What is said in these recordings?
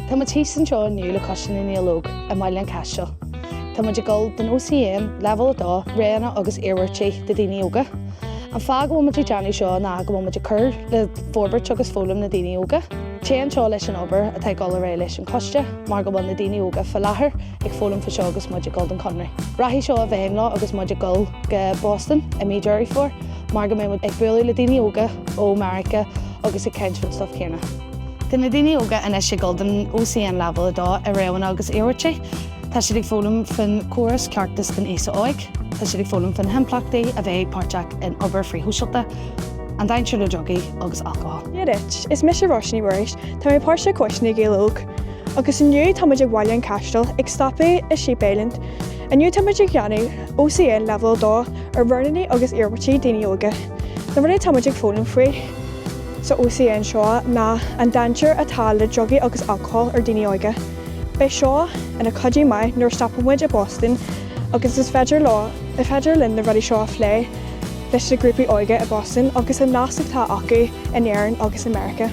Tá muid thíos anseo inniu le Coiste na nGael Óg i mBaile an Chaistil. Tá muid ag dul don OCN, Leibhéal 2, Roghanna agus Iarmhairtí do Dhaoine Óga. An fáth go bhfuil muid ag déanamh seo ná go bhfuil muid ag cur le forbairt agus foghlaim na daoine óga. Téann seo leis an obair atá ag dul ar aghaidh leis an Choiste mar go bhfuil na daoine óga faoi láthair ag foghlaim faoi seo agus muid ag dul don Chonradh. Rachaidh seo i bhfeidhm leo agus muid ag dul go Boston i mí Deireadh Fómhair mar go mbeidh muid ag bualadh le daoine óga ó Meiriceá agus ag caint faoin stuif céanna. Tá na daoine óga anois ag dul don OCN Leibhéal 2 i roghanna agus iarmhairtí. Tá siad ag foghlaim faoin chóras ceartais don aosa óig, tá siad ag foghlaim faoi na himpleachtaí a bheith páirteach in obair frithshóisialta, an dainséar le drugaí agus alcól. Dia duit, is mise Róise Ní Mhuiris, tá mé páirteach i gCoiste na nGael Óg. Agus inniu táimid ag Bhaile an Chaistil, ag stopadh i Sheep Island, Inniu táimid ag déanamh OCN leibhéal 2 ar roghanna agus iarmhairtí daoine óga. Na rudaí atáimid ag foghlaim faoi sa OCN seo ná an dainséar atá le drugaí agus alcól ar daoine óga. Beidh seo ina cuidiú maith nuair a stopann muid i Boston agus is féidir leo, is féidir linn na rudaí seo a phlé leis na grúpaí óige i Boston agus an nasc atá acu in Éirinn agus i Meiriceá.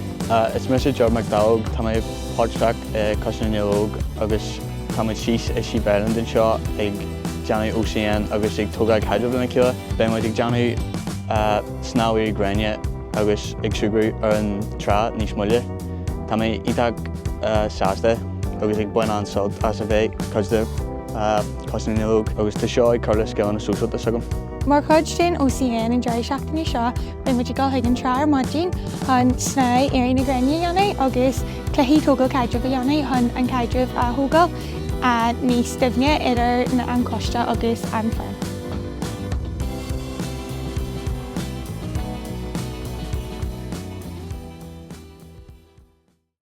Is mise Jordan Mac Dowell, tá mé páirteach i Coiste na nGael Óg agus. Táimid síos i Sheep Island anseo ag déanamh OCN agus ag tógáil caidrimh lena chéile. Beidh muid ag déanamh snámh na gréine agus ag súgradh ar an trá níos moille. Tá mé iontach sásta agus ag baint an-sult as a bheith cuid de Choiste na nGael Óg agus tá seo ag cur le scileanna sóisialta s'agam. Mar chuid den OCN an deireadh seachtaine seo, Beidh muid ag dul chuig an trá ar maidin chun snámh Éirí na Gréine a dhéanamh agus cluichí tógáil caidrimh a dhéanamh chun an caidreamh a thógáil níos doimhne idir na an coiste agus an fhoireann.